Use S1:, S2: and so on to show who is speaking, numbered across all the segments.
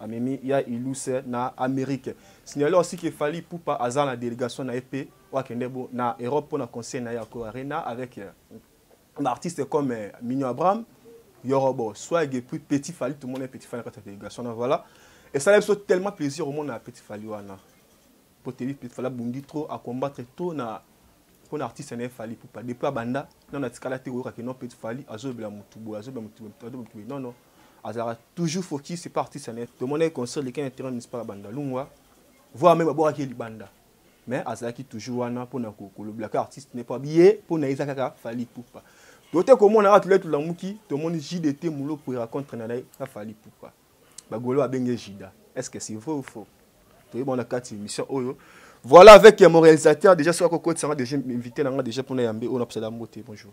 S1: amemi ya iluse na amerike signale aussi ke fali pupa aza na délégation na ye mpe oyo akende bo na europe mpo na conseil na ye ya co arena avec euh, baartiste comme euh, migno abraham yorobo swag et puis petit fali tomona petit fali na kati ya délégation na voilà esala biso tellement plaisir omona ya petit fali wana mpo tebi petit fali abundi trop acombattre trop na mpo na artiste na ye fali pupa depuis abanda nano atikala te koyoka ke non petit fali azolobela motu boye azolobela motu boye, azolobela motu boye non non azalaka toujours focus c'est pas artiste net tomonaki concert leki na terrain municipal ya bandalungwa voir meme abwakaki ye libanda mais azalaki toujours wana mpona kolobelaka artiste ne mpo abiye mpo na ye eza kaka fali pupa tote komona kaka tolai tolamuki tomoni jdt molopo eracontre na ye na fali pupa bagolo babenge jida est ce que c'est vrai ou faux toyeba na kati émission oyo voilà avec mon réalisateur déjà soki akokotisanga déjà invité na nga déjà mpona yambe oyo napesala mbote bonjour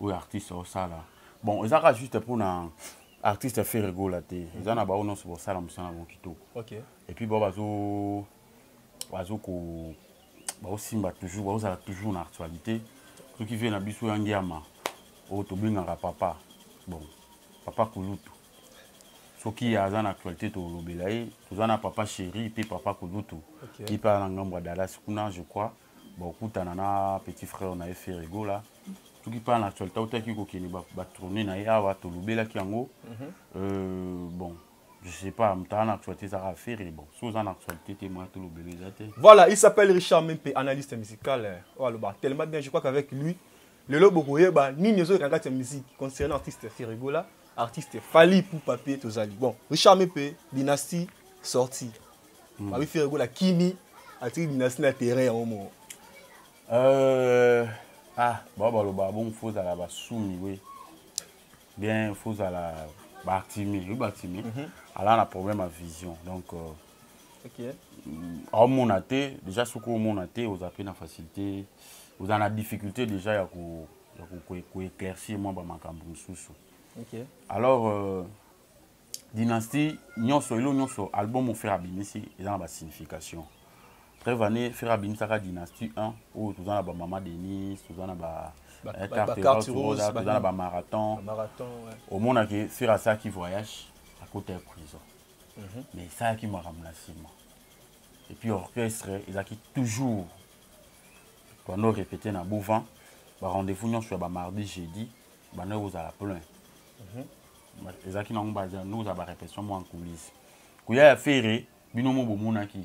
S2: oyo artiste osala bon eza kaka juste mpo na artiste fere gola te mhm. eza na bango nyonso bosala mosala yango kitoko epuis bao
S1: bazo
S2: bazo ko baosimba toujours baozala toujours na actualité soki vie na biso ya ngiama oyo tobengaka papa bon papa kulutu soki aza na actualité tolobela ye toza na papa chéri mpe papa kulutu ye mpe aza na ngambo ya dallas kuna je crois bokutana na petit frère na ye ferre gola soki mpa na actualité autaki kokende batourne na ye awa tolobelaki yango mhm. euh, bon je sais pas mtaa na actualité ezaka ferre bon soki oza na actualité te moya tolobela eza te voilà il s'appelle
S1: richard mimpe analyste musical oyo oh, aloba tellement bien je crois qu'avec lui lelo bokoyeba nini ezoleka kati ya musique concernant artiste ferre gola artiste fali pour papier tozali bon richard mimpe dynastie sortie mm. babi fere gola kimi atiki dinasi na terrain yango moko euh,
S2: ah bao baloba bongo fo ozala basumi we bien fo ozala baartime oyebi baartime mhm. ala na problème ya vision donc euh, okay. aomona te déjà soki omona te oza mpe na facilité oza na difficulté déjà ya koéclaircir mwa bamakambo mosusu alors euh, dynastie nyonso elo nyonso album oyo frère abimisi eza na basignification preuve année frère abimisaka dynastie 1 oyo toza na bamama denise toza na ba eh, carte rose toza na bamarathon omonaki frère asalaki voyage akota ya prison mhm. mais esalaki makambo na nsima epuis orchestre ezalaki toujours toando répété na bouvant barendez-vous nyonso ya bamardi jeudi banda kozala plein mhm. ezalaki nango bazandokozala barepetition mwa nkulisi koya ya fere bino mo bomonaki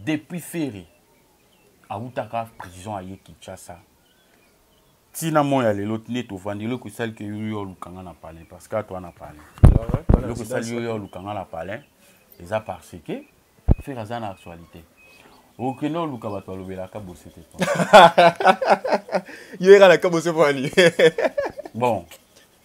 S2: depuis fere awutaka prison aye kinshasa ntina moi ya lelo nde tovandi eloko esali ke yoyo oluka nga na palin parce que atwa na palin eloko esali yoyo oluka nga na palin eza parce que fere aza na actualité okende oluka bato balobelaka bose te
S1: yo ekalaka bose pwani bon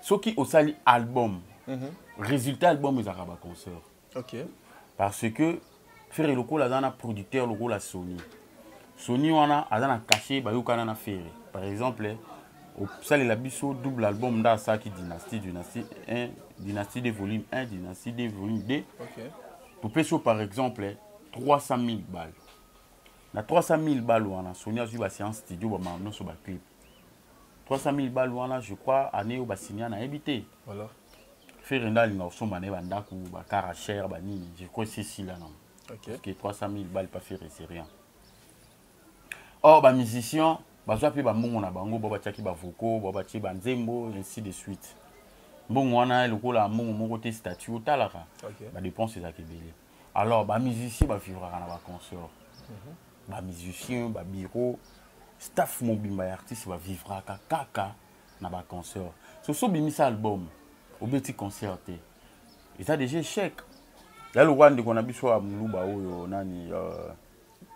S2: soki osali album mhm. résultat album ezalaka baconcert okay.
S1: parce que
S2: ferre lokola aza na producteur lokola sony sony wana aza na cachet bayokana na ferre par exemple osalela biso double album nde asalaki dynastie dynastie 1 dynastie de volume 1 dynastie de volume 2 okay.
S1: topesi yo par
S2: exemple 300 000 balle na 300 000 balle wana sony azwi baséance studio bamama nyonso baclipe 300 000 balles wana je crois année oyo basinya nayebi te voilà. ferre nde alinga kosomba na ye bandako bakara cher banini je crois esesila nango okay. parce que 300 000 balles pa ferre c'est rien or bamusicien bazwa mpe bambongo na bango bo batyaki bavoko bo batye banzembo ainsi de suite mbongo wana lokola mbongo moko te statut otalaka okay. badépense ezalaka ebele alors ba musicien ba vivraka na ba concert mhm. ba musicien ba bureau staff mobimba ya artiste ba vivraka kaka na ba concert so so bimisa album obeti concert te eza déjà échec ya lokola ndeko na biso ya moluba oyo nani euh,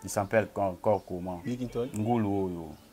S2: il s'appelle encore comment ngulu oyo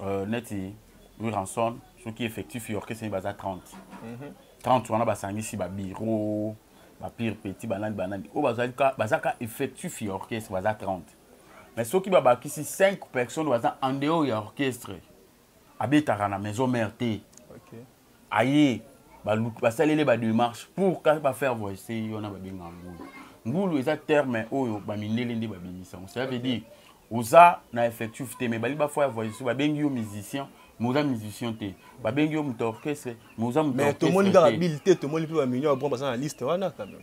S1: euh, neti
S2: wiranson soki effectif ya orchestre baza 30 mm -hmm. 30 wana basangisi babiro bapire petit banani banani oyo oh, baza ka effectif ya orchestre baza 30 mais soki babakisi 5 personnes baza en dehors ya orchestre abetaka na maison mère te okay. aye baluki basaleli bademarche pour ka bafaire voice wana babenga ngulu ngulu eza terme oyo bamindele nde babimisa yango cela veut dire oza na effectif te mais bali bafo ya voice babengi yo musicien mais oza musicien te babengi yo moto orchestre mais oza mototomoni kaka
S1: bile te tomoni mpe bamillion ya bon baza na liste wana quand même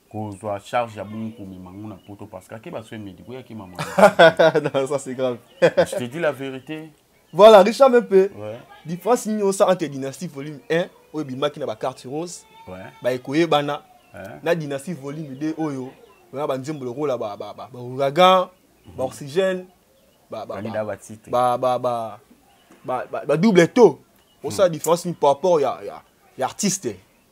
S2: kozwa charge ya bongo komema yango na poto parce que akeba soin médicaux yaki mama non ça
S1: c'est grave je te dis la
S2: vérité voilà richard
S1: mepe ouais. différence
S2: nini osa
S1: entre dynastie volume 1 oyo ebimaki na bacarte rose ouais. baekoyebana ouais. na dynastie volume 2 oyo na banzembo lokola baouragan baoxygène badouble to osala différence nini par rapport ya artiste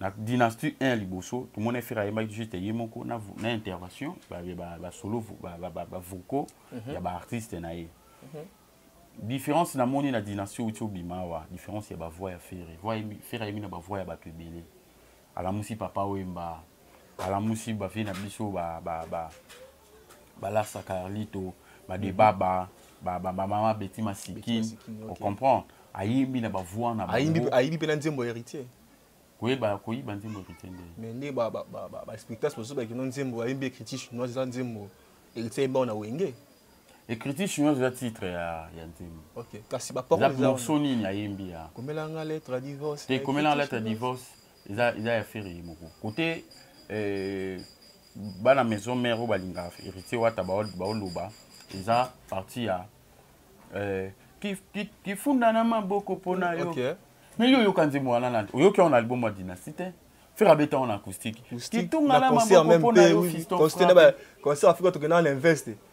S2: na dynastie 1 ya liboso tomoni efere ayembaki juste ye moko na, na intervention basolo ba, ba, ba, ba, vocaux mm -hmm. ya baartiste na ye mm -hmm. différence namoni na dynastie outi obima awa différence ya bavoix ya fere fere ayemi na bavoix ya bato ebele alamusi papa oyemba alamusi bavie na biso ba, ba, ba, balarsa carlito badebaba mm -hmm. bamama beti masikin ocomprendre ayembi na bavoi na ayibi mpe na nzembo
S1: héritier koyeba
S2: koyiba nzembo héritier nde mais nde
S1: baspectacle mosusu bakino nzembo ayembi écriture chinoise eza nzembo héritier ayembi ao na wenge écriture
S2: chinoise eza titre ya, ya nzembo okay. kasi
S1: bapormorceau nini ayembi
S2: ya komelanga lettre ya
S1: divorce te komelanga lettre ya
S2: divorce eza eza ya ferre ye moko kote eh, bana maison mère oyo balingaka héritier wata baoloba eza parti ya eh, kifunda na maboko mpo na yo okay. mais yo oyoka nzembo wana na oyoki yango na album ya dynastie te ferre abeta yango na acoustique kitunga na maboko mpo na yo
S1: fiston concert afrika tokenda na investe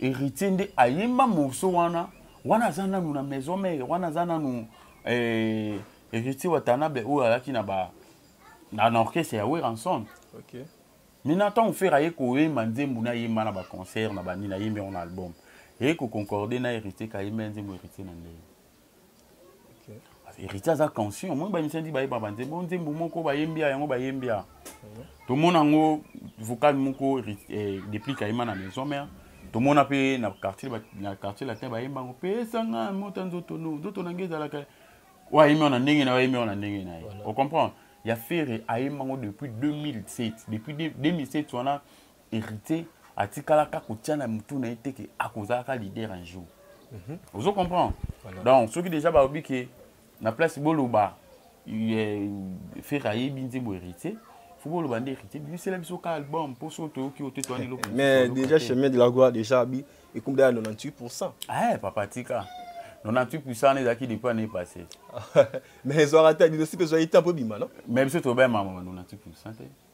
S2: Héritier nde ayemba morceau wana wana aza nanu na maison mère wana aza nanu eh, héritier watanabe oyo ayaki na ba na, na orchestre ya weranson okay.
S1: mina ntango
S2: fere aye koyemba nzembo nayemba na baconcert na banini ayembi yango na album eye koconcorde na héritier kayemba ya nzembo héritier na ndenge héritier aza conscient omoni bamisa nti bayeba banzembo o nzembo moko bayembi ya yango bayembi ya tomona yango vocal moko eh, deplique ayema na maison mère tomona mpe na quartier na quartier latin bayemba yango pesanga mota nzoto no nzoto na nge ezalaka oyo ayembi yango na ndenge na ye ayembi yango na ndenge na ye ocomprendre ya ferre ayemba yango depuis 2007 depuis 2007 wana héritier atikalaka kotia na motu na ye te ke akozalaka leader un jour mm -hmm. ozo comprendre voilà. donc soki déjà balobi ke na place boloba eh, fere ayebi nzembo héritier fo boloba nde héritier bimisela biso ka album mpo so toyoki ote toani eloko mais déjà chemin de
S1: la gloire déjà abi ekumda ya 98 pourcent eh papa tika
S2: 98 pourcent wana ezalaki depuis année passé mais
S1: ezwaka te bino sipe ezwaki temps mpo ebima non mais biso tobema 98
S2: pourcent te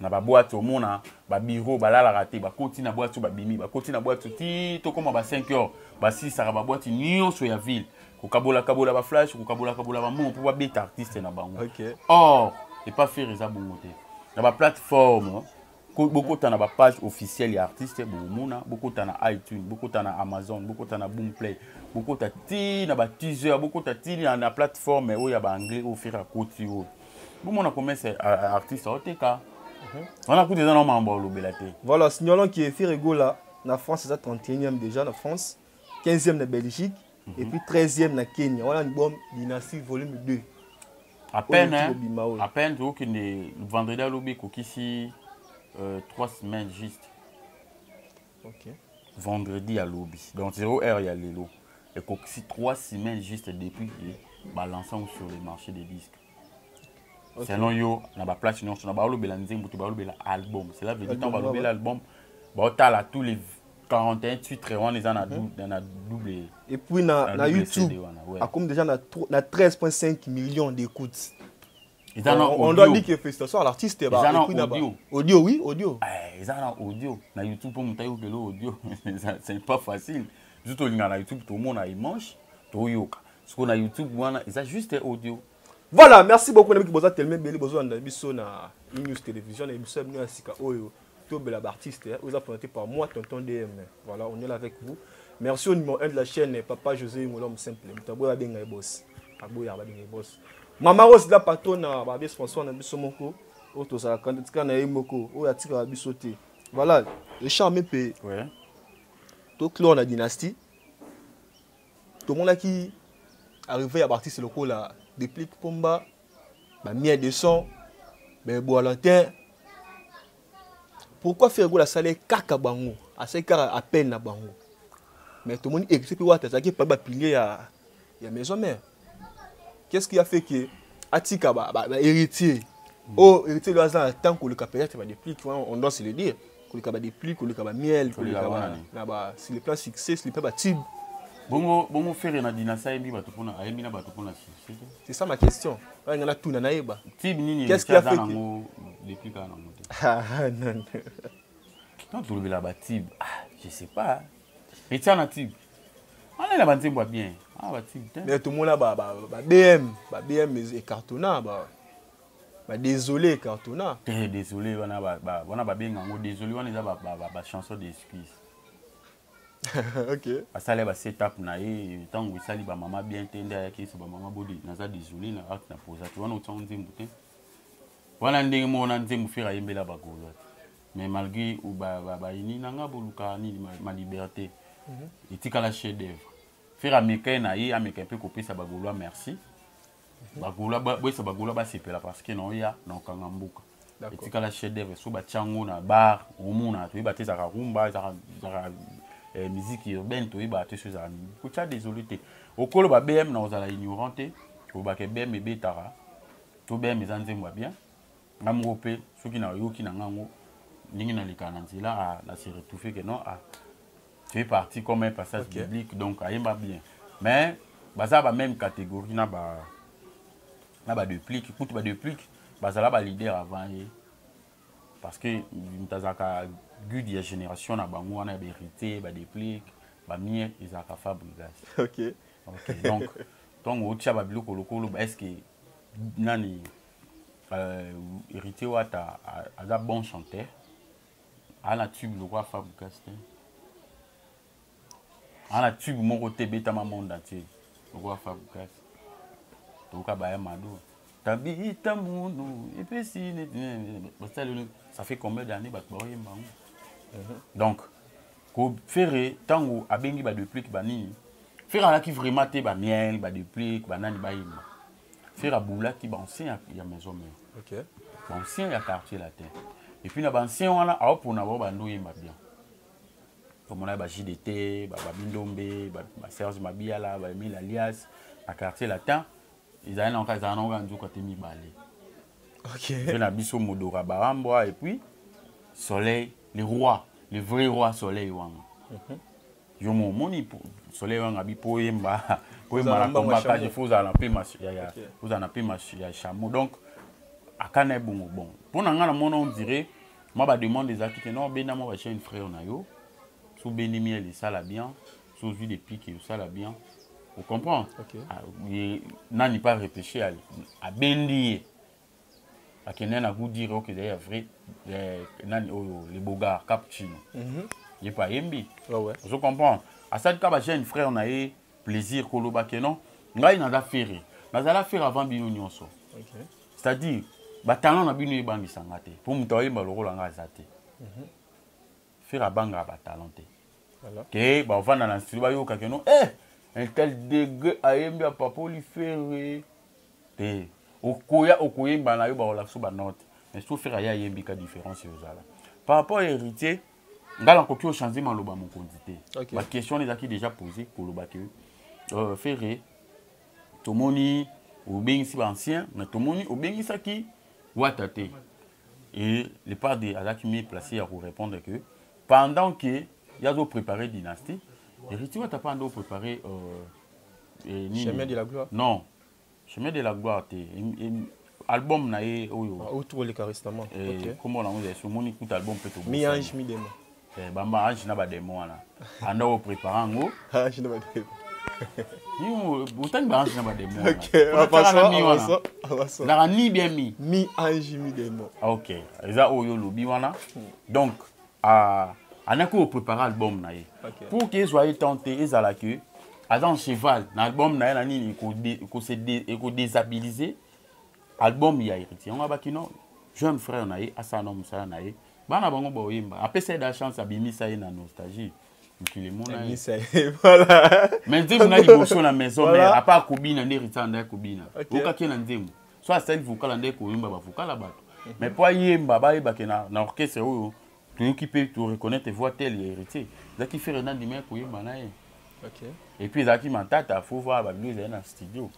S2: na babwati omona babiro balalaka te bakoti na bwati oyo babimi bakoti na bwati ti tokóma ba 5 heures basisaka babwati nyonso ya ville kokabolakabola baflash kokabolakabola bamongo mpo babeta artiste na bango okay. or epa fere eza bongo te na baplateforme bokota na bapage officielle ya artiste bokomona bokota na itune bokota na amazon bokota na boomplay bokota ti na bateaser bokota ti na plateforme oyo ya baanglais oyo fere akoti oyo bomona komese artiste oteka mhm. wana kutu eza na mambo olobela te voilà signalons que
S1: firigola na france eza 31e déjà na france 15e na belgique mm -hmm. et puis 13e na kenya wana libom dynastie volume 2 à peine
S2: hein, à peine tokokende vendredi alobi ekokisi euh, 3 semaines juste
S1: okay. vendredi
S2: ya lobi donc zero heure ya lelo ekokisi trois semaines juste depuis ke balance yango sur le marché des disques okay. selon yo na baplace nyonso na balobela nzembo te balobela album cela veut dire ntango balobela album baotala tous les 41 titres wana eza na mhm. double et puis na,
S1: na, na youtube akomi déjà na, na 13.5 millions d'écoutes eza na on doit dire que félicitations à l'artiste ba eza na audio audio oui audio eh eza na audio
S2: na youtube po moto ayokela audio c'est pas facile biso tolingaka na youtube tomona image toyoka sikoyo na youtube wana eza juste audio voilà merci
S1: beaucoup na miki boza teleme ebele bozolanda biso na news télévision na emission ya bino ya sika oyo oh, tobela b'artiste hein, oza présenté par moi tonton dm voilà on est là avec vous merci au numéro 1 de la chaîne papa josé ingolom simple moto aboya babenga ye boss aboya babenga ye boss mama rose la patronne na babe sponsor na biso moko oyo tozalaka tika na ye moko oyo atikaka biso te voilà echarme mpe toclore na dynastie tomonaki arrivé ya baartiste lokola déplique pomba ba mia de son mais boalantin pourquoi faire gola sale kaka bango asali kaka appel na bango mais tomoni héritier mpe wata azalaki epai bapilier ya, ya maison mère qu'est ce qui a fait que atika ba, ba, ba héritier mm. oyo oh, héritier lio aza na temps koleka peut-être badeplique on doit se le dire koleka ba depli koleka ba miel koleka ba na ba sur le plan succès sur le plan ba tube bongo bongo
S2: ferre na dina sayebi bato pona ayebi na bato pona succès c'est ça ma question
S1: ba ngana tuna na yeba tube nini qu'est-ce qu'il a
S2: fait nango depuis kana nango te ah, ah non non tant tolobela ba tube ah je sais pas etia na tube ana na banzembo ya bien ah ba tube te mais tomona ba
S1: ba bm ba bm ecartona ba ba désolé cartona eh désolé wana ba,
S2: ba wana ba benga ngo désolé wana eza ba ba, ba, ba chanson d'excuse
S1: okay asala ba
S2: setup na ye ntango esali ba mama bien te nde ayaki so ba mama bodi naza désolé na art na posa te wana otiango nzembo te wana ndenge moko na nzembo fere ayembela bagolo mais malgré bayini na nga boluka nini ma liberté mhm. etikala chef d'œuvre fere ameka ye na ye ameka mpe kopesa bagolois merci bagola boyesa bagola basepela parce que naoya na okanga mboka etikala chef d'œuvre so batya yango na bar omona toyeba te ezalaka rumba ezalaka eh, miziki urbaine toyeba te so ezalaka nini kotya désolé te okoloba bm na ozala ignorant te olobaka bm ebetaka to bm eza nzembo ya bien nga moko mpe soki nayoki na nga yango ndenge nalekaka na nzela ah, na se retrouve que non ah, tu es parti comme un passage okay. biblique donc ayemba bien mais baza ba même catégorie na ba na ba deplique kutu ba deplique bazala ba leader avant ye parce que moto azalaka gude ya génération na bango wana ya baheritier ba deplique bamie ezalaka fabrigas okay.
S1: okay. donc
S2: ntongo otya babiloko lokolo est ce que nani euh, héritier wata aza bon chanteur ana tube lokola fabrikas te ana tube moko te ebetama monde entier lokola fabrikas toyoka baya mado tabita mundu epesi basali ça fait combien d'année bato baoyemba yango mhm. donc kofere ntango abengi badeplike banini fere alaki vraiment te bamiel badeplike banani bayemba Ferre aboulaki ba ancien ya, ya maison mère. OK. Ba
S1: ancien ya
S2: quartier latin. Et puis na ba ancien wana a opona ba bando yemba bien. Tomona ba JDT, ba Babindombe, ba, ba Serge Mabiala, ba Emile Alias na quartier latin. Ezali na nka ezali na nka nzuka te mibale. OK.
S1: Pe na biso
S2: Modora Barambwa et puis Soleil, le roi, le vrai roi Soleil wana. Mm -hmm. yo mo moni soleil wanga bi po yemba po yemba na combat ka je faut na pe mas ya ya faut na pe mas ya chameau donc akana bongo bon po na ngana mona on dirait ma ba demande des actes non benda mo ba chaîne frère na yo so bendi miel ça la bien so vit des pics ça la bien vous comprenez okay. Ah,
S1: nani
S2: pas réfléchir à, à bendi akende na gout dire oke ya vrai eh, nani oyo le bogar cappuccino mhm. ye mpe ayembi ah ozo comprendre asalika bajeune frère na ye plaisir koloba ke non ngai naza ferre nazala ferre avant bino nyonso c'est à dire batalent na bino ebangisa nga te mpo moto ayemba lokola nga aza te mhm. Ferre abangaka ba talent te. Ke ba vanda na studio ba yoka ke non eh un tel degré ayembi a papoli Ferre te. Okoya okoyemba na yo ba olakso ba note. Mais so Ferre ya yembi ka différence yo zala. Par rapport à héritier ngai nakoki ochange maloba mokonzi te okay. baquestion wana ezalaki déjà posé koloba ke euh, ferre tomoni obengisi baancien mais tomoni obengisaki wata te et le padre azalaki mi place ya korépondre que pendant que ye azo préparer dynastie hériti wata mpe ando préparer euh, eh,
S1: nini? chemin de la gloire non
S2: chemin de la gloire te Em- em- album na ye oyo Ah, oyo tokoleka restamment
S1: eh, ok kombo nango ezali
S2: so omoni kuta album mpe mi tobosani ange mi demo
S1: Eh, bamba ange na
S2: bademo wana anda oprépare yango ange na
S1: bademo
S2: otangi baange na bademo
S1: wanalaka ni bien mi
S2: mi ange mi
S1: demo ah, ok eza
S2: oyo olobi wana hmm. donc ah, anaki oprépare album na ye pour ke ezwa ye temps te ezala ke aza en cheval na album na ye na nini ekodésabilise album ya héritier yango abaki non jeune frère na ye asala na mosala na ye bana bango baoyemba apesa ye da chance abimisa ye na nostalgie mokili emonamisa ye voilà
S1: mais nzembo na
S2: liboso na maison mère apa akobina nde rita nde akobina okaki na nzembo so asali vokala nde koyemba bavokala bato mhm. mais mpo ayemba bayebake na orchestre oyo toyoki mpe toreconnaitre voix tel ya héritier ezalaki fere nandima ya koyemba na ye et puis
S1: ezalaki
S2: matata fo voir babilo ezali na studio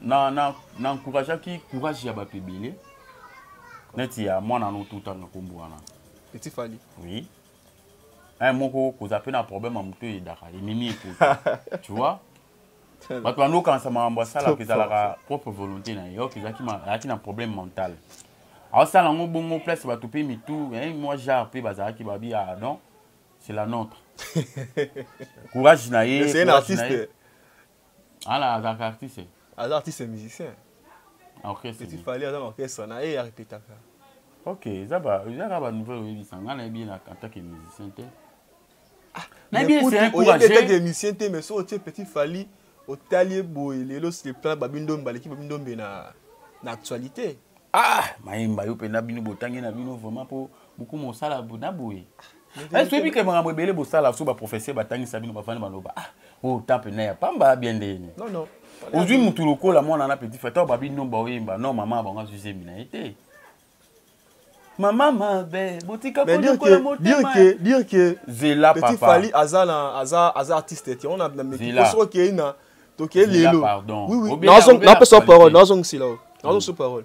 S2: na, na, na encourageaki courage ya bato ebele neti ya mwana no totanga nkombo wana etifali
S1: oui
S2: un moko kozala mpe na problème ya moto eyedaka ememi ekota tu vois bato bandi okanisa makambo asalaka ezalaka propre volonté na ye ok ezalaki na problème mental aosala yango bongo place bato mpe mitu eh, mwa genre mpe bazalaki babi ah non c'est la nôtre courage na ye Ala azalaka artiste. Aza artiste
S1: musicien. Na orchestre.
S2: Petit Fally aza na orchestre
S1: na ye arepetaka. Ok,
S2: eza ba eza ka ba nouvelle oyebisa nga na yebi na en tant que musicien te. Ah,
S1: na yebi c'est un courage. Oyebi ete musicien te mais so otie Petit Fally otali boye lelo c'est plan babindo mbaleki babindo mbe na na actualité. Ah,
S2: mayemba yo pe na bino botangi na bino vraiment po beaucoup mosala na boye. Eh, soyebi ke makambo ebele bosala so baprofesseur batangisa bino bafandi baloba ah oyo oh, temple na ya pamba bien nde yene
S1: ozwi motu
S2: lokola mwana na petit fata babi nomba oyemba no mama bango azwi zemi na ye te mama mabe botika koyokola motemabirke
S1: zela petit fali
S2: aza
S1: na aza aza artiste te ona mikoso okei na tokei lelo
S2: napesa
S1: parole nazongisila nazongisila parole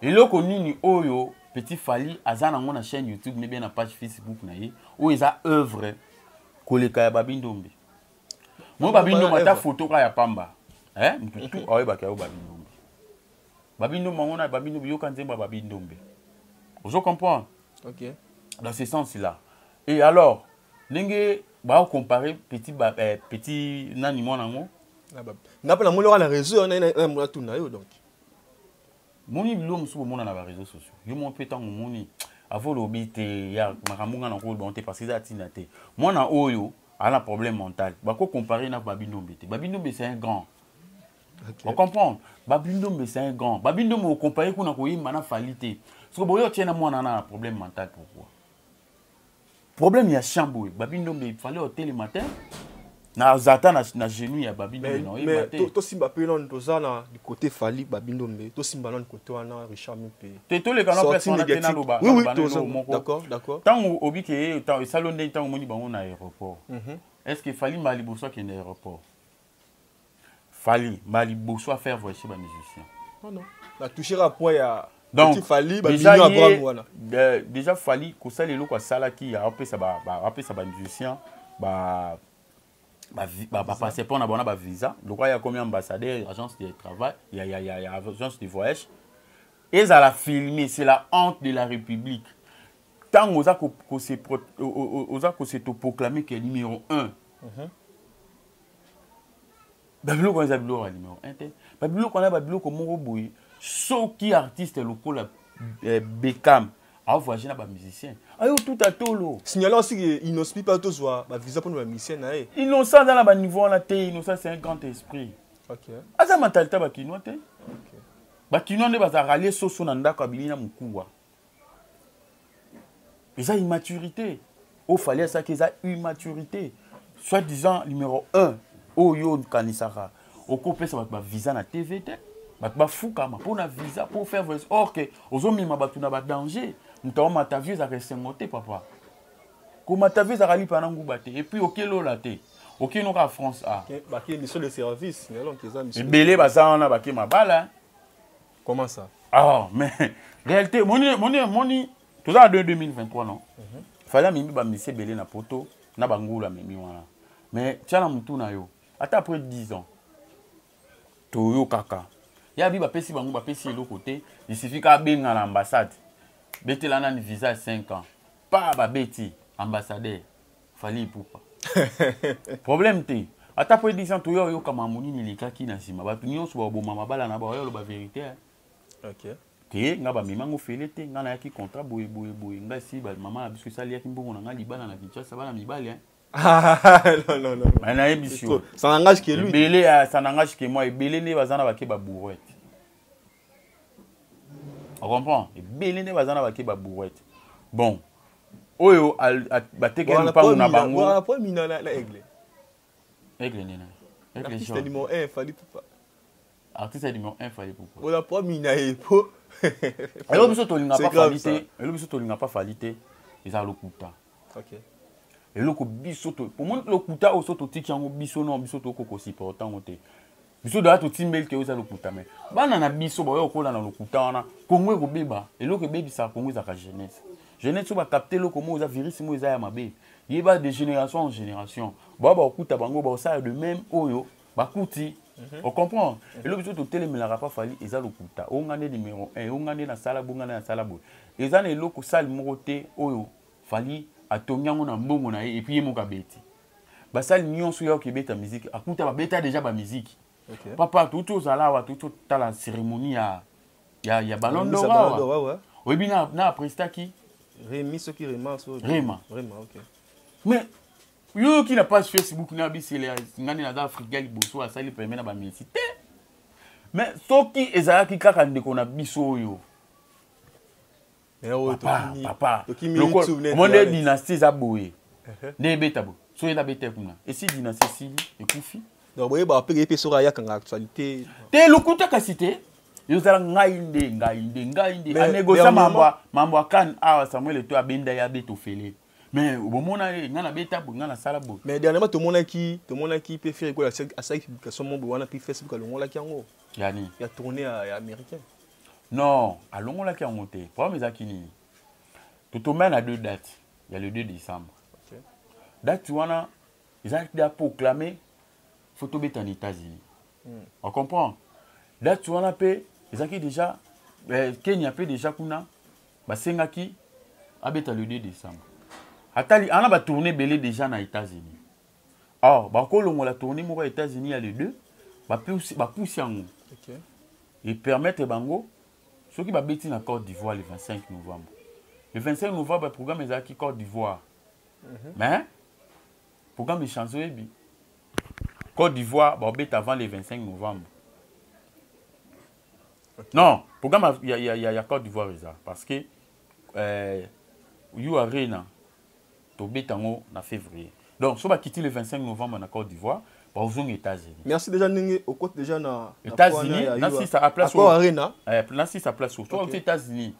S2: eloko nini oyo petit fali aza nango na chaîne youtube ne bien na page facebook na ye oyo eza œuvre koleka ya babindombe moi babindombe ata foto ka ya pamba eh, mutu tu ayebaka yo babindombe babindombe yango na babindombe yoka nzembo ya babindombe ozo comprendre okay.
S1: dans ce sens
S2: là et alors ndenge baocompare petit, ba, eh, petit nani mwana yango nga mpe
S1: namoni oka na réseau wana natuna yo donc
S2: moni biloko mosusu komona na bareseau sociaux yo moko mpe ntango omoni avo olobi te ya makambo ngai nakoki bango te parce eza ntina te mwana oyo ana problème mental bako comparer na babindombe te babindombe c'est un grand okay. ocomprendre babindombe c'est un grand babindombe ocompare kuna koyemba na fali te soki boyo otie na mwana ana na problème mental pourquoi problème ya chant boye babi ndombe il fallait otelema te naza ata na, na genou ya babi ndombe naoyeba te tosimba mpe
S1: nano toza na côté fali babi ndombe tosimba nano côté wana richard mpe te toleka na place wana
S2: mpe naloba oui, oui, moko
S1: ntango obi
S2: ke esali yo ndenge ntango omoni bango na aéroport mhm. est ce que fali mbala liboso akende aéroport Fally mbala liboso afaire voice ba musicien non non na
S1: toucher ka poids ya donc
S2: déjà
S1: ye
S2: déjà fali kosala eloko asalaki apesa apesa ba musicien ba bapasseport na bango na bavisa lokola ya komi ambassadeur ya agence de travail ya, ya, ya, ya agence de voyage ezala filme c'est la honte de la république ntango oza kose oza kose toproclame ke numéro 1 uh -huh. babiloko wana eza biloko ya numero 1 te babiloko wana babiloko moko boye soki artiste lokola eh, beckham avoyage na bamusicien ayo tuta tolo signale osiki
S1: innocent mpe tozwa bavisa mpona bamusicien na ye innocent aza na
S2: baniveau wana te innocent c'est un grand esprit aza
S1: mentalite ya
S2: bakinois te bakinois nde baza ralie soso na ndako abimi na mokuwa eza immaturité oyo fali asaki eza immaturité soit disant numéro 1 oyo okanisaka okopesa bato bavisa na tv te bato bafukama mpo na visa mpo faire voice or ke ozomema bato na badanger moto yango matavio ezaka esengo te papa komatavio ezaka lipa na nguba te epuis okelola te okino kaka france a
S1: ebele baza wana bake
S2: mabala comment
S1: ça ah mais
S2: réalité moni moni moni toza na 2023 non mhm. fallait amemi bamisi ebele na poto na bangulu amemi wana mais tya na motu na yo ata après 10 ans toyokaka ya bi bapesi bango bapesi eloko te isifi ka abenga na ambassade betela nani visa ya 5 ans pa babeti ambassadeur fali ipupa problème te ata mpo edisa toya oyoka mamu nini elekaki na nsima bato nyonso baboma mabala na baoya oloba verité eh. okay.
S1: te nga
S2: bamema ngo fele te nga nayaki contrat boye boye boye nga si mama na biso esali yaki mbongo na nga libala na kinshasa bana mibali eh.
S1: nayebisi
S2: yo ebele
S1: ya sanangage ke
S2: mwa ebele nde baza na bake babourete ocomprend ebele nde baza na bake babourete bon oyo batekeli mpango na bango aigle nini artiste
S1: ya
S2: numéro 1 fali
S1: pupa artiste ya
S2: numéro 1 fali pupa ola po mina ye
S1: po elo
S2: biso tolinga pa fali te elo biso tolinga pa fali te eza lokuta okay
S1: eloko
S2: biso to omoni lokuta oyo so totiki yango biso no biso tokoki kosupporta yango te biso doya totimbeli te oza lokuta me bana na biso baoya kokola na lokuta wana kongo ekobeba eloko ebebisaka kongo ezalaka jeunesse jeunesse oyo bakapte eloko moko eza virus moko eza ya mabe yeba de génération en génération baoya bakokuta bango bakosala de même oyo bakuti mhm. ocomprendre mhm. eloko biso totelemelaka pa fali eza lokuta oyo nga nde numero 1 oyo nga nde nasala boye nga nde nasala boye eza na eloko sale moko te oyo fali atongi yango na mbongo na ye epuis ye moko abeti basali nyonso ya okebeta miziki akuta babeta deja bamiziki okay. papa touti ozala awa touti otala cérémonie ya, ya, ya ballon d'or awa oyebi na, na aprestaki
S1: remi soki rema so rema rema
S2: okay. mais yoyoki na page facebook na bisele ngani naza afrika liboso asali peme na bamesi te mais soki ezalaki kaka ndeko na biso oyo omoni dynastie eza boye uh-huh. nde ebeta boye so ye nabeta kuna esi dynastie esili ekufi donc boyebaka mpe
S1: epe soki ayakanga actualité te lokuta kasi
S2: te ezala ngai nde ngai nde ngai nde anegosia mambo ya kane awa samuel eto abenda ye abeta ofele mais bomona ye ngai nabeta boye ngai nasala boye mais dernièrement tomonaki
S1: tomonaki mpe ferre kola asalaki publication moko boye wana mpe facebook alongolaki yango yani ya tourne
S2: ya
S1: américaine Non,
S2: alongolaki yango te. Problème ezalaki nini? Totomba na deux dates ya le 2 décembre. Okay. Date wana ezalaki da proclamer faut tobeta na États-Unis. Mm. On comprend? Date wana pe ezalaki déjà eh, Kenya pe déjà kuna basengaki abeta le 2 décembre. Atali ana ba tourner belé déjà na États-Unis. or bakolongola tourni moko ya états-unis ya le deux bapusi yango okay. epermettre bango soki babeti na côte d'ivoire le 25 novembre le 25 novembre programme ezalaki côte d'ivoire mm -hmm. mais programme echange oyebi côte d'ivoire babeta avant le 25 novembre okay. non programme ya, ya, ya, ya côte d'ivoire eza parce que euh, you arena tobeta yango na février donc so bakiti le 25 novembre na côte d'ivoire bakozonga états-unis merci déjà ndenge
S1: okoti déjà na états-unis nasisa
S2: a place oyo arena eh, nasisa
S1: place oyo
S2: soki états-unis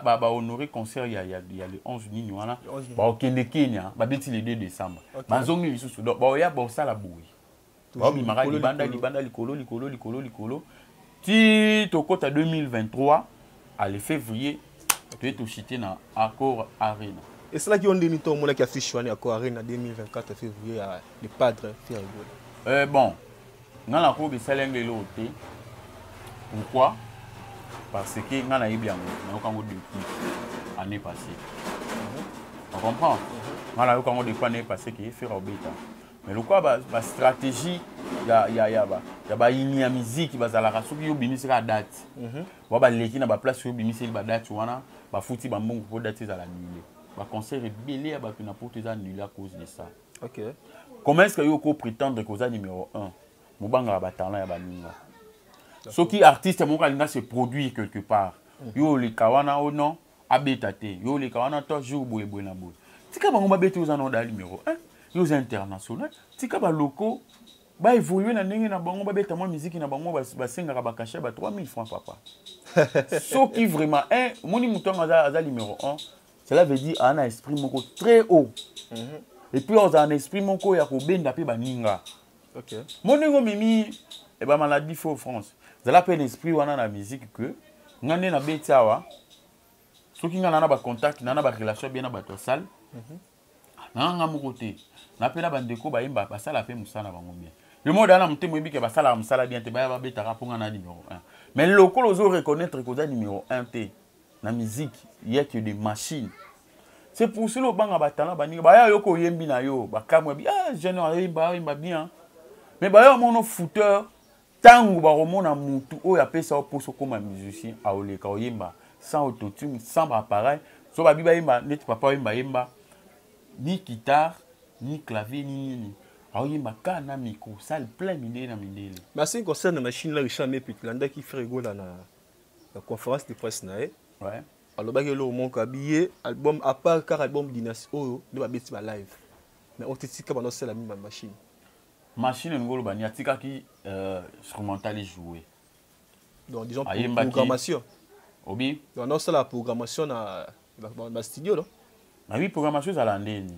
S2: bahonore mhm. concert ya le 11 nini wana bakokende kenya babeti le 2 décembre bazongi lisusu donc baoya baosala boye baobimaka libanda libanda likolo likolo likolo likolo ti tokota 2023 ale février toye tosite na accord arena esalaki yo ndeni
S1: to omonaki affiche wana ya accord arena 2024 février ya le padre pierre gola eh, bon
S2: ngai nakoyoka esali yango eloko te pourquoi parce que ngai nayebi yango nayoka yango depuis année passée mhm. on comprend mhm. ngai nayoka yango depuis année passée ke fera obeta mais lokola ba, ba stratégie ya, ya, ya, ba, ya bayini ya miziki bazalaka soki yo obimisi kaka date mm -hmm. wa baleki na baplace oyo obimiseli badate wana bafuti bambongo mpo date ezala annule baconcert ebele ya bato na poto eza annule à cause de ça okay.
S1: comment est ce que
S2: yo oko prétendre que oza numéro 1 mobangaka batalent ya baninga soki artiste moko alinga se produire quelque part mm -hmm. yo oleka wana o oh non abeta te yo oleka wana to jour boye boye na boye tika bango babeta oza na oda numéro 1 yo oza international tika baloko baévolue na ndenge na bango babeta mwa miziki na bango basengaka bakashe ba 3000 francs papa soki vraiment un eh, omoni moto yango aza, aza numéro 1 cela veut dire aa na esprit moko très haut mm -hmm. epuis ozala na esprit moko ya kobenda mpe baninga okay. mo
S1: ndenge omemi e
S2: eh bamaladi fo france zala mpe l'esprit wana na musique que ngai nde nabeti awa soki ngai na na bacontact na na barelation bien na bato ya salle mhm. nanga ngai moko te na mpe na bandeko bayemba basala mpe mosala na bango bien le monde aa na motema oyebi ke basalaka mosala bien te baya babetaka mpo ngai na numero 1 mais lokola ozo reconnaître koza numero 1 te na musique yeke de machine c'est pour cela obanga batala baninga baya yo koyembi na yo bakamwa bi ah jeune ayemba ayemba bien mais baya omono fouteur ntango bakomona mutu oyo apesa yo mposa okoma musicien aoleka oyemba sans autotune sans baappareil so babi bayemba neti papa oyemba yemba ni guitare ni clavier ni nini aoyemba ka na micro sale plein mindele na mindele mais asini concert na
S1: machine la richard mepit landaki fregola na conférence de presse na ye ouais. alobaki
S2: eloko
S1: moko abiye album à part kaka album dynastie oyo nde babeti ba live mais oyo titika banda osala mimi ba machine machine
S2: elingi oloba nini atikaki euh, instrumental ejoue donc
S1: disons programmation obi
S2: donc naosala
S1: programmation na bastudio no na oui programmation
S2: ezala ndeni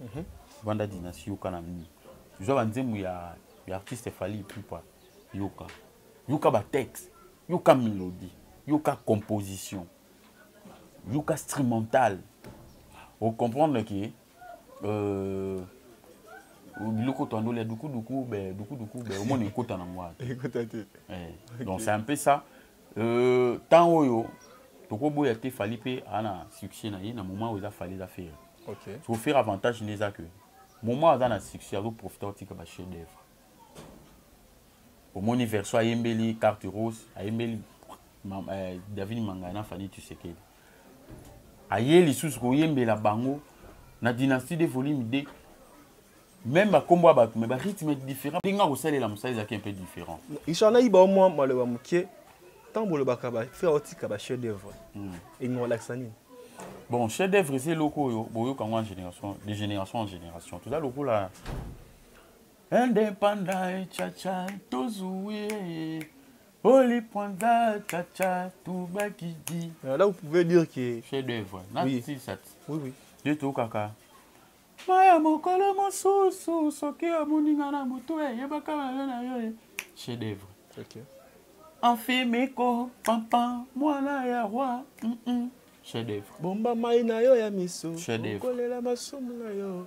S2: Mhm. Banda Dynastie yoka na mimi. Zwa ba nzembo ya ya artiste Fally Ipupa yoka. Yoka ba texte, yoka melodie, yoka composition. Yoka instrumental. O comprendre que euh biloko twandola ya dukuduku be dukuduku be omoni ekota na ngwa ekota te eh, donc c'est un peu ça Euh, temps oyo tokoboya te fali mpe aa na succès na ye na moment oyo eza fali eza fere okay. so fere avantage nde eza ke moment aza na succès azoprofite akotika bachef d'œuvre omoni verso ayembeli carte rose ayembeli euh, david mangaya na fani tusekeli aye lisusu koyembela bango na dynastie de volume 2 même bakombo ya bato mais barythme différent ndenge akosalela mosala ezalaki un peu différent richard nayiba o mwa
S1: maloba moke ntango bolobaka bafrère otika bachef d'œuvre hmm. elingi kolakisa nini bon chef
S2: d'œuvre eza eloko oyo boyoka yango en génération de génération en génération toza lokola Independent chacha tozuie Oli Panda chacha tubakidi. Euh, là vous pouvez dire
S1: que chef d'œuvre. Oui.
S2: oui
S1: oui.
S2: Nde tokaka maya mokolo mosusu soki amoni nga na motu eyebaka mayo na yo chef d'œuvre. Okay.
S1: Enfimiko
S2: pampa mwana ya roi. Mm -mm. Chef d'œuvre. Bomba mai na yo
S1: ya miso. Chef d'œuvre. Kolela
S2: masumu na
S1: yo.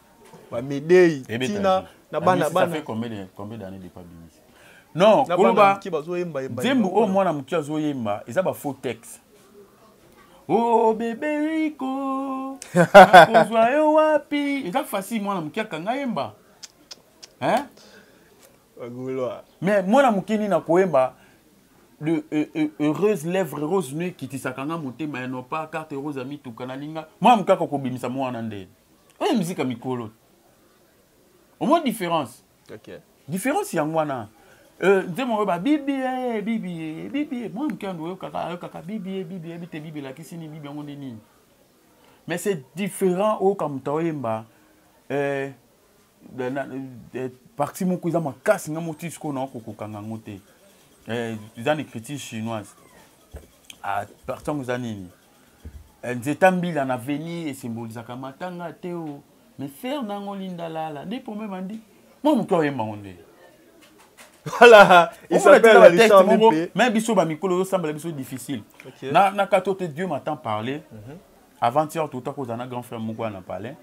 S1: bamedei tina na
S2: bana bana non koloba nzembo oyo mwana moke azoyemba eza bafaux texte o oh, bebe riko akozwa yo wapi eza facile mwana moke akanga yemba hein? mais mwana moke nini akoyemba de euh, euh, heureuse lèvre rose nue kitisaka nga motema ya nopa carte rose ya mituka nalinga mwana moke akokobimisa mwana ndeni oyo musique ya mikolo omoi différence okay.
S1: différence yango
S2: wana euh, nzembo oyo babibi eh, bibi eh, bibi eh, mwa moke yango oyokaka ayokaka bibi bibi yebi te bibi elakisi nini bibi yango nde nini mais c'est différent oyoka moto aoyemba euh, euh, parti moko eza makasi nga moti sikoyo nao kokokanga yango te eza na écriture chinoise ah, parti yango eza nini eh, nzeta mbila na veni esimbolisaka matanga te o mais fer nango lindalala nde pome bandi mwa moke oyemba ngo nde
S1: voilà il s'appelle la liste moko mais biso ba mikolo
S2: yo sambala biso difficile okay. na na kato te Dieu m'a tant parlé mm -hmm. avant hier tout à cause na grand frère moko na palais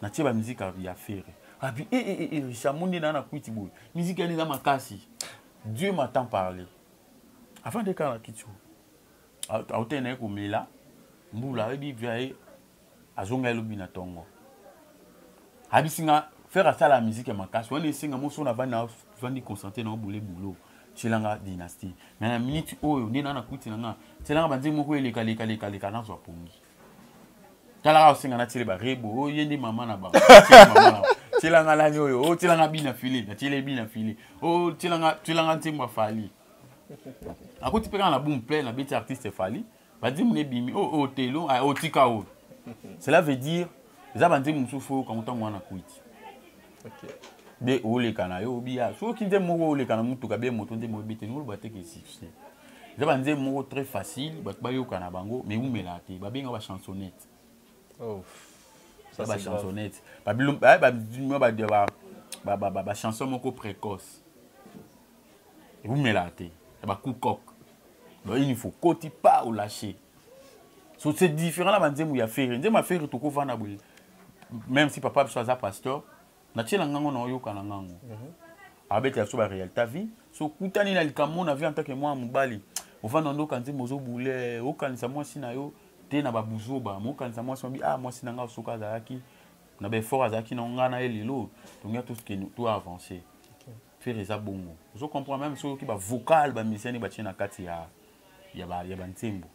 S2: na tie ba musique ya ferre abi eh eh eh Richard eh, monde na na kuiti boy musique ya na makasi Dieu m'a tant parlé avant de kana kitio autaki na ye komela mbula ayebi via ye azonga ye lobi na ntongo abisi nga fere asala miziki ya makasi wana esenga moso na bana vandi concentre na obule boulot tielanga dynastie me na minute oyo nde na nakuti na nga tielanga banzembo moko eleka leka leka leka nazwa pongi talaka osenga natiele barebo oyo oh, ye nde mama na bango tielanga nani oyo otielanga oh, bina file natiele bina file otielanga oh, nzembo afali akuti mpe kaka na boom plein abeti artiste fali banzembo nebimi oyo oh, otelo oh, ah, otika oh, oyo cela veut dire eza banzembo mosusu fo oyokango ntango wana kuiti be oleka na yo obiya soki nzembo moko oleka na motuka be moto nzembo ebeteni oloba te ke succès eza banzembo moko très facile bato bayoka na bango mais eumelaka te babenga bachansonnette bachansonnette bachanson moko précoce ewumelaka te ya bacoup coq baini fo koti pa olache so c'est différent na banzembo ya fere nzembo ya fere tokovanda boye même si papa biso aza pasteur natiela ngango na oyoka na ngango mhm. abetela biso barealité vie so okutani na likambo na vie en tant que mwana mobali ovanda nde okanisi mozobule okanisa mwasi na yo te na babuzoba mokanisa mwasi mabi ah mwasi na ngai soki azalaki na baeffort azalaki na ngai na ye lelo tongia toavance Ferre eza bongo. Ozo comprendre même soki ba vocal ba musiciens ba tie na kati ya ya ba ya ba nzembo.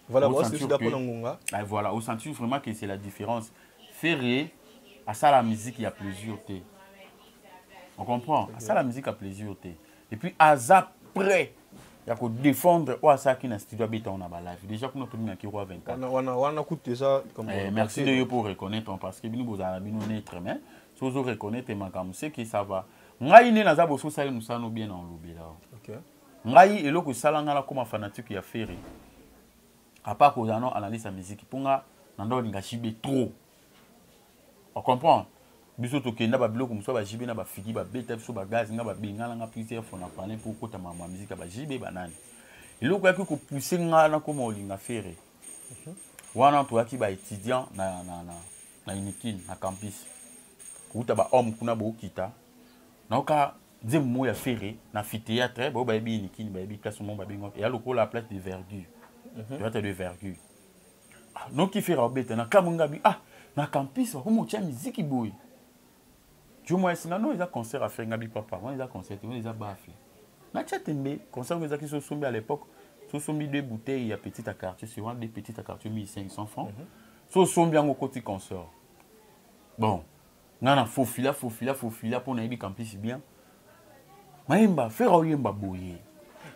S1: Voilà, moi aussi d'accord na ngonga. Ah voilà, au sentir
S2: vraiment que c'est la différence. Ferre asala musique ya plaisir te. On comprend? Asala musique ya plaisir te. Et puis aza prêt ya kodefendre oyo asalaki na studio abetao na balive déjà kuna tominaki roi 24
S1: merci de yo pour
S2: reconnaître parce que bino bozala na bino neutre mais so ozo reconnaitre makambo ce qui ça va ngai nde naza boso osali mosala no bien na olobela okay. ngai eloko esala ngai nakoma fanatique ya ferre apart kozala no analyse ya miziki mpo nga na nda olinga jibe trop ocomprendre biso tokenda babiloko mosusu bajibe na bafigi babeta biso bagazi nga babengana nga plusieurs fois na palin mpo okota makambo ya miziki ya bajibe banani eloko yaki kopuse ngai nakoma olinga ferre mhm. wana toyaki baétudiant na, na, na, na unikin na campus kouta bahomme kuna bokita nayoka nzembo moko ya ferre na amphithéâtre baoyo bayebi unikin bayebi place moko babengaka eya lokola place de vergure mhm. théâtre de vergure ah, noki ferre abeta na kamwe ngabi ah na campus bakomi otya miziki boye Jumwes nano eza concert affaire ngabi papa wana eza concert wana eza bafle na tia tembe concert ngo ezaki sosombi à l'époque sosombi deux bouteilles ya petite à quartier c'est wana deux petites à quartier 1500 francs mm -hmm. sosombi yango koti concert bon nga na fofila fofila fofila mpo nayebi campus bien mayemba fera oyemba boye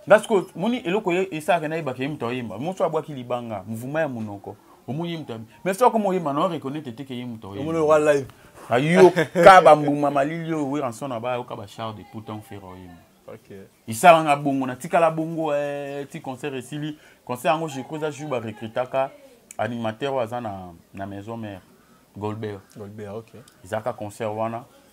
S2: nga sikoyo moni eloko esalaka nayebaka ye moto ayemba moso abwaki libanga mvuma ya monoko omoni ye moto mais soki akoma oyemba na oreconnaitre te ke ye moto oyemba
S1: ayoka
S2: bambuma malili oyo weranson na bayoka bachar de poutan fera oyemba esalanga bongo natikala bongo eh, ti concert esili concert yango je crois eza jour barecrutaka animateur oyo aza na, na maison mère golbert golbert ok ezalaka concert wana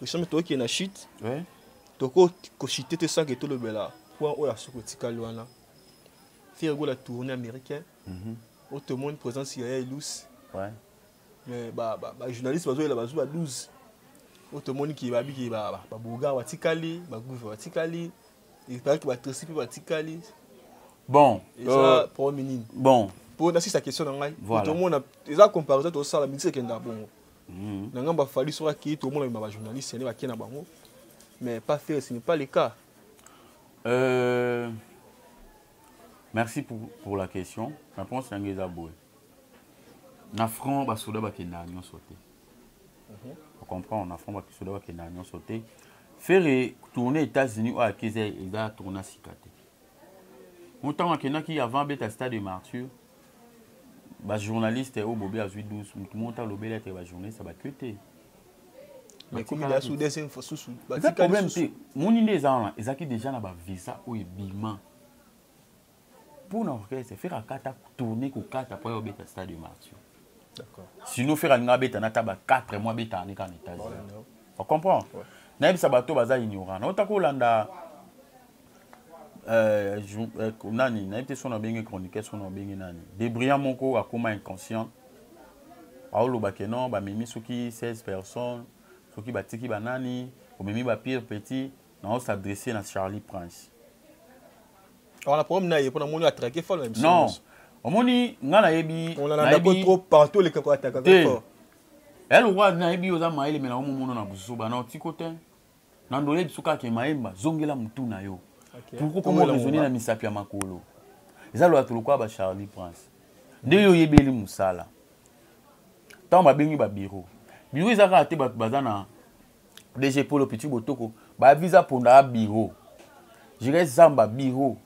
S1: Richard toki na chute. Ouais. Toko ko chute te sans que to lobela point oyo asuko tikali wana. Fier go la tournée américaine. Mhm. Mm o te monde présence ya Elus. Ouais. Mais ba ba, ba journaliste bazo la bazo ba 12. O te monde ki ba biki ba ba, ba boga wa tikali, ba gouve wa tikali. Il paraît que ba tresi pe ba tikali. Bon,
S2: et euh, pour
S1: minine. Bon. Pour na sisa
S2: question na
S1: ngai. Voilà. Tout le monde a eza comparaison to sala mixer kenda bongo. mm. na ngambo ya fali soki akei tokomona bima bajournaliste yane bakei na bango mais pas faire ce n'est pas le cas euh,
S2: merci pour, pour la question réponse yango eza boye na franc basoda bakendaka nyonso te mhm. ocomprendre na franc basoda bakendaka nyonso te fere tourne états-unis oyo akeza eza tourna sika te ntango akendaki avant abeta stade de martyre ba journaliste oyo bobi azwi 12 motu moko ta lobeli ete ba journaliste bakio
S1: te eza problème te
S2: moni nde eza wana ezalaki déjà na bavisa oyo ebima mpo na orchestre fere akata tourne kokata mpo ya obeta stade martio sinon fere alinga abeta na ta ba 4 mois abetaka ne kaka na états-unis ocomprendre nayebisa bato baza ignorant naotaka olanda Euh, euh, nani nayebi te soki nabenge chroniqueur soki nabenge nani debrillant moko akóma inconscient aoloba ke non bamemi soki 16 personnes soki batiki banani omemi bapire petit nao s'adresse na charlie prince
S1: wana problème na ye mpo namoni atrake fo na non omoni
S2: ngai nayebi onanandako trop
S1: partout oleka koataka te ya lokola
S2: nayebi oza mayele me naomomono na buzoba na otiko te na ndo oyebi biso kaka ke mayemba zongela motu na yo okay. pourkoi koma raisonne na misapi ya makolo eza loya to lokola bacharlie prince nde yo oyebeli mosala ntango babengi babiro biro eza kaka te bato baza na dg polo petit botoko baviza mponda ya biro jires zamba biro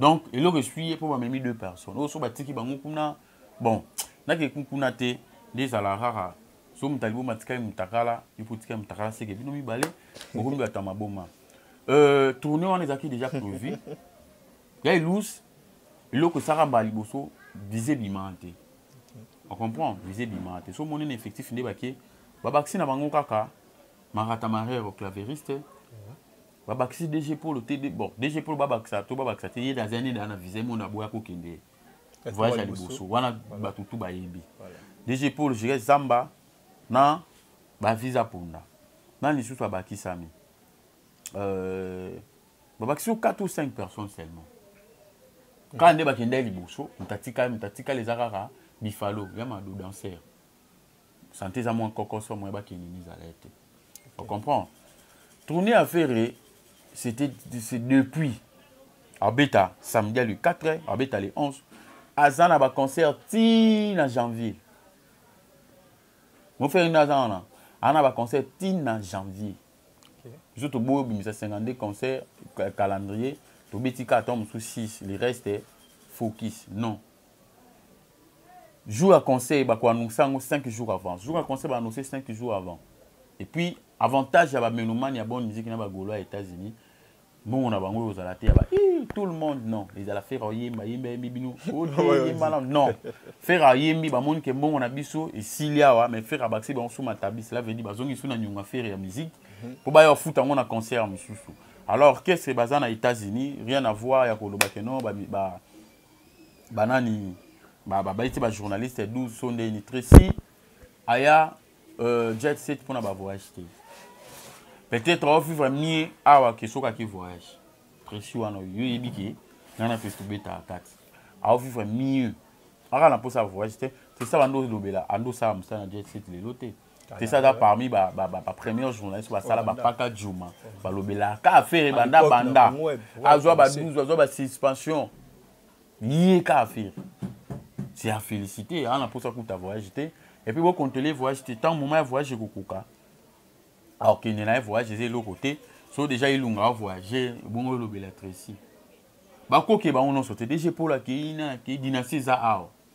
S2: donc eloko esui ye mpo bamemi deux personnes oyo so batiki bango kuna bon nake kuna te nde ezala kaka so moto alibo matikali motakala yo mpo otikali motakala seke bino mibale bokomi bato ya maboma euh, tourne wana ezalaki déjà prévu ya elus eloko esaka mbala liboso vize bimaa te ocomprend vize bimaa te so omoni na effectif nde bake babakisi na bango kaka marata marero claveriste babakisi dg polo te bon dg polo babakisa to babakisa te ye daza nini ana visa emona boya kokende voyage ya liboso wana bato tu bayebi dg polo jire zamba na bavisa ponda nani lisusu abakisami euh, babakisi yo 4 ou 5 personnes seulement kaka nde bakendaki liboso moto atikali moto atikali eza kaka bifalo ya mado danser sante eza mwa nkokoso moye bakende mizala ye te o comprendre tourne affaire c'était depuis abeta samedi ya le 4 heures abeta le 11 aza na baconcert ti na janvier mofere nde aza wana aza na baconcert ti na janvier biso toboyi obimisa 52 concert calendrier tobeti kaka ntango mosusu 6 le reste focus non jour ya conseil bakoannonce yango 5 jours avant jour ya conseil baannonce 5 jours avant et puis avantage ya bamenomane ya bonne musique na bagolo ya états-unis mbongo na bango ekozala te yaba tout le monde non ezala fere oyemba yembi ayembi bino oyembana non fere ayembi bamoni ke mbongo na biso esili awa mais fere abakisi bango suma tabi cela veut dire bazongi su na nyonga fere ya musique mhm. mpo baya bafuta yango na concert mosusu alors qu'est-ce que baza na états-unis rien à voir ya koloba ke non ba, ba banani babayi te bajournaliste 12 so ndeni tracy aya euh, jet set mpona bavoyage te peut-être ovivre mie awa ke soki ake voyage tracy wana yo oyebi ke ngai na tracy tobetaka kati aovivre mieux aka na mposa ya voyage te tracy abandi olobela andi osala mosala na jet set lelo te te ça aza parmi ba ba ba première journaliste ba sala ba paka juma ba lobela ka affaire banda banda azwa ba 12 azwa ba suspension ye ka affaire c'est à féliciter ana posa kuta voyage te et puis bo contrôler voyage te tant moment ya voyage kokoka alors kende na ye voyage eza eloko te so déjà elunga a voyage bongo olobela tracy bakoke bango nyonso te dg polo akei na akei dynastie eza awa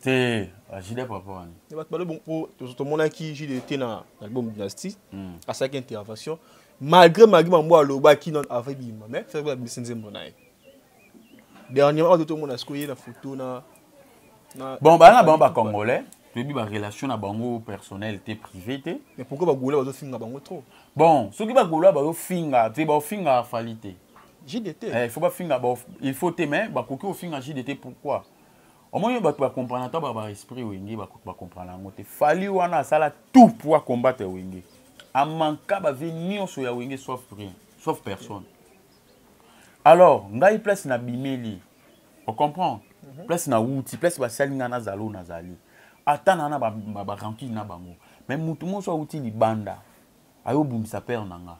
S1: te
S2: ajida papa wana ya bato balobi mpo
S1: tomonaki jide te na album dynastie hmm. asalaki intervention malgré magi mambo alobaki non avant ebima mais fere abimisi nzembo na ye dernièrement oyo tomona sikoyo ye na foto na bon
S2: baa na bango bacongolais toyebi barelation na bango personnel te privé te mais pourquoi bagolois
S1: bazofinga bango trop bon soki bagolois
S2: bazofinga te baofinga fali te jdt eh, il
S1: faut bafinga
S2: il faut te mais bakoki kofinga jdt pourquoi omoni bato bacomprana ata ba esprit wenge bacomprana yango te fali wana asala tout pour acombattre wenge amanka bavie nyonso ya wenge sauf rien sauf personne alors ngai place na bimeli ocomprendre mhm. place na wuti place basali ngai nazala oyo nazali ata na na barankine na bango mais motu monso awuti libanda ayobundisa pere na ngai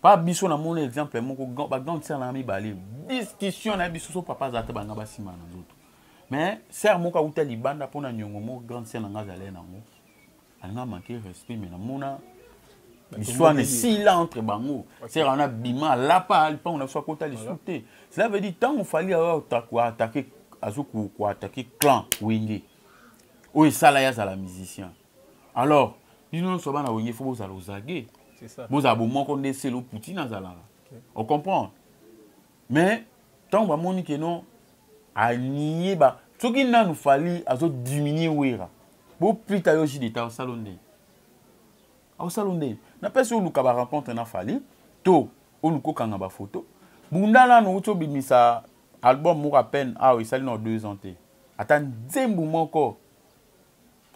S2: pa biso na mona exemple moko ba grande sœur na mibale discussion na biso so papa azalaka banga basima na nzoto mais sœur moko awuta libanda mpo na nyongo moko grande sœur na nga azalai nango alinga manke respect mais namona liswana esila entre bango sœur wana bima alapa lipango na biso akota lisu te cela veut dire ntango fali azokoatake azokoatake clan wenge oyo esala ye azala musicien alors bino nyonso bana wenge fo bozala ozage bozala
S1: bomoko nde selo
S2: poutine azalaka ocomprendre mais ntango bamoni ke non anie ba soki nanu fali azodiminue wera boplita yo ji deta osala ndenge osala ndenge napesi oluka barencontre na fali to oluka okanga bafoto bunda nanu outi obimisa album moko apene awa esali na deux ans te ata nzembu moko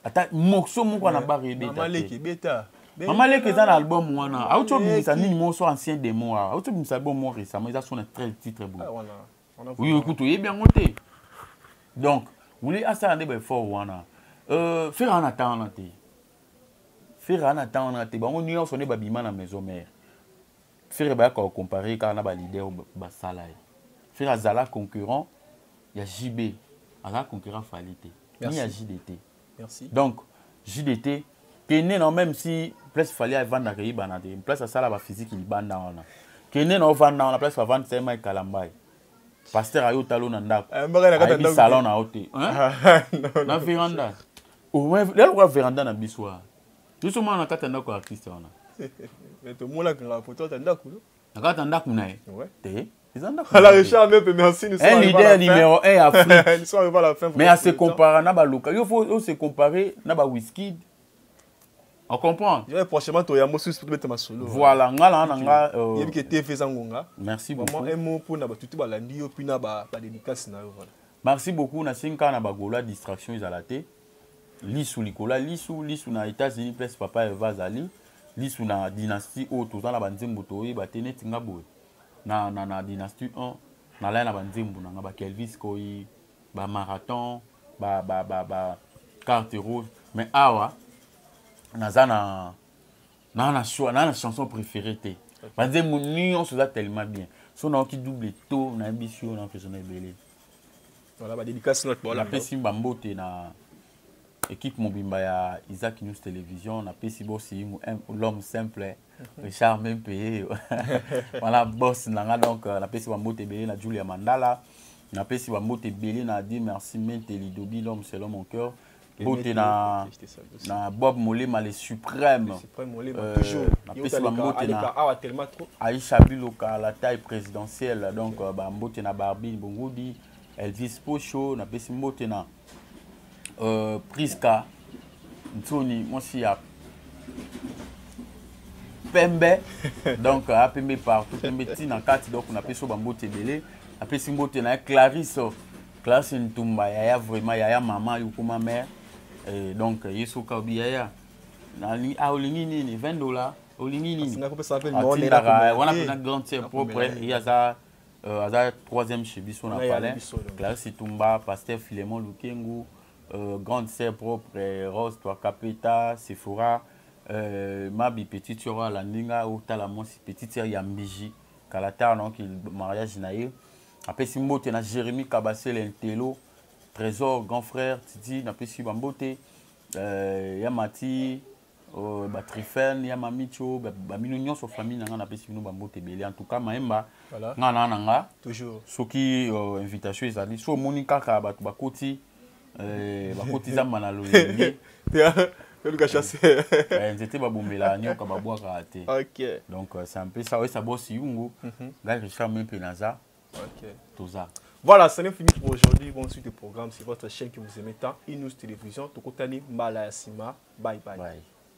S2: ata morceau moko na bar ebeta ebeta
S1: mama leke eza
S2: na album wana auti obimisa nini moko so ancien demo awa auti obimisa album moko récemment eza so na 13 titre boye oyo kutu oyebi yango te donc wuli asala nde baeffort wana euh, fere ana ta wana te fere ana ta wana te bango nyonso nde babima na maison mare Ferre baya ko comparer kaka na ba leader basala ye. Ferre azala concurrent ya JB. Azala concurrent Fally te. Ni ya JDT. Merci. Donc JDT kende na même si place Fally avanda ke ibana te. Place asala ba physique libanda wana. Kende na ovanda wana place avanda sa mai kalambai. Pasteur ayo talo na ndako. Eh, mbaka na kata ndako. Salon na ote. Hein? Na veranda. Au moins, là, on va veranda na biswa. Biso mwana na kati ya ndako ya artiste wana. Mais to
S1: mola kanga photo ta ndako. Na kati ya ndako na
S2: ye. Ouais. Te. Eza
S1: ndako.
S2: Ala Richard
S1: Mepe merci nous sommes. Un leader numéro 1
S2: ya Afrique. Nous sommes arrivés à la
S1: fin.
S2: Mais à
S1: se comparer na
S2: ba local. Il faut se comparer na ba Wizkid. On comprend. Je vais prochainement toi yambo
S1: sous pour mettre ma solo. Voilà, nga la nga
S2: euh yebi que TV
S1: zangonga. Merci beaucoup. Vraiment
S2: un mot pour na ba tutu
S1: ba landi yo puis na ba ba dédicace na yo voilà. Merci beaucoup na sinka
S2: na ba gola distraction ezala te. lisu likolo ya lisu lisu na états-unis place papa eva azali lisu na dynastie oyo toza na banzembo toyeba te neti nga boye na, na, na dynastie 1 nalaya na banzembo na nga bakelvis koi bamarathon ba, ba, ba, ba carte rouge mais awa naza na naa na choix naa na chanson préférée te banzembo nyonso eza tellement bien so nayoki double to nayebisi yo na mpesona ebele Voilà,
S1: ba dédicace note voilà. Napesi ba mbote
S2: na équipe mobimba ya Isaac News Television, napesi boss yingu l'homme simple, mhm. Richard même payé. voilà boss nanga donc euh, napesi ba mbote belé na Julia Mandala. Napesi ba mbote belé na dit merci Menteli Dobi l'homme selon mon cœur. mbote na, na bob molema le suprême euh,
S1: napesi bambote
S2: na aisha
S1: biloka
S2: la taille présidentielle donc euh, bambote na barbine bongudi elvis pocho napesi mbote na euh, priska nsoni mwasi ya pembe donc apembe partout pembe ntina kati donc napesi yo bambote ebele napesi mbote na ye clarisse Classe Ntumba yaya vraiment yaya maman yukuma mère eh, donc yesu kaobi yaya nani ah olingi nini 20 dollars olingi nini atindaka
S1: wana
S2: mpena grande sœur propre ye aza euh, aza troisième chez biso na palais clarisse tumba pasteur philemon lukengu euh, grande sœur propre rose twakapeta sephora euh, mabi petite sœur alandi nga otala mwasi petite sœur ya mbiji kala tard donc mariage na ye apesi mbote na jérémi kabasele ntelo trésor grand frère titi napesi bambote euh, ya mati euh, batrifene ya mamicho bamino ba nyonso famille na ngai napesi bino bambote ebele en tout cas mayemba voilà. ngai naa na nga toujours soki
S1: euh,
S2: invitation ezali so omoni kaka bato bakoti ba eh, bakoti zamba na loyenge oluka chasse eh, nzete babombela nyoka babwakaka te donc euh, c'est
S1: un peu ça
S2: oyesa bosi yungu mhm. ngai richard mpe naza
S1: toza
S2: Voilà, ça n'est fini
S1: pour aujourd'hui. Bonne suite de programme. C'est votre chaîne que vous aimez tant. Inus Télévision. Tokotani Malayasima. Bye bye. bye.